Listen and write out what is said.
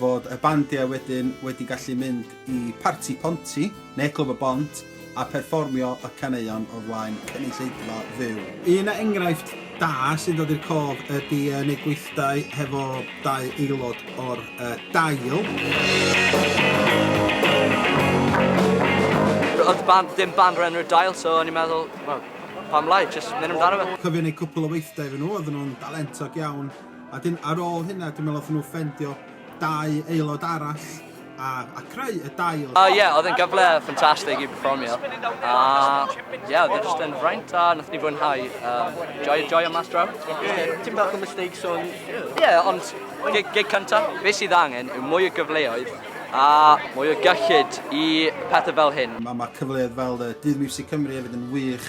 fod y bandiau wedyn wedi gallu mynd i Parti Ponti neu Clwb y Bont a pherfformio y caneuon o flaen cynulleidfa fyw. Un enghraifft da sy'n dod i'r cof ydy yn eu gweithdai hefo dau aelod o'r Dail. Oedd y band ddim band o'r enw'r Dail so o'n i'n meddwl, wel, pam lai, jyst mynd amdano fe. Cofiwn eu cwpl o weithdai efo nhw, oedden nhw'n dalentog iawn. A 'dyn ar ôl hynna dwi'n meddwl wnaethon nhw ffendio dau aelod arall a, a creu y dail. O uh, ie, yeah, oedd yn gyfle ffantastig i performio. A uh, ie, yeah, oedd e jyst yn fraint a nath ni fwynhau. Uh, joy, joy o mas draw. Ti'n bach o mistakes o'n... Ie, yeah, ond gig, gig cynta, be sydd angen yw mwy o gyfleoedd a mwy o gyllid i pethau fel hyn. Mae ma cyfleoedd fel y Dydd Music Cymru hefyd yn wych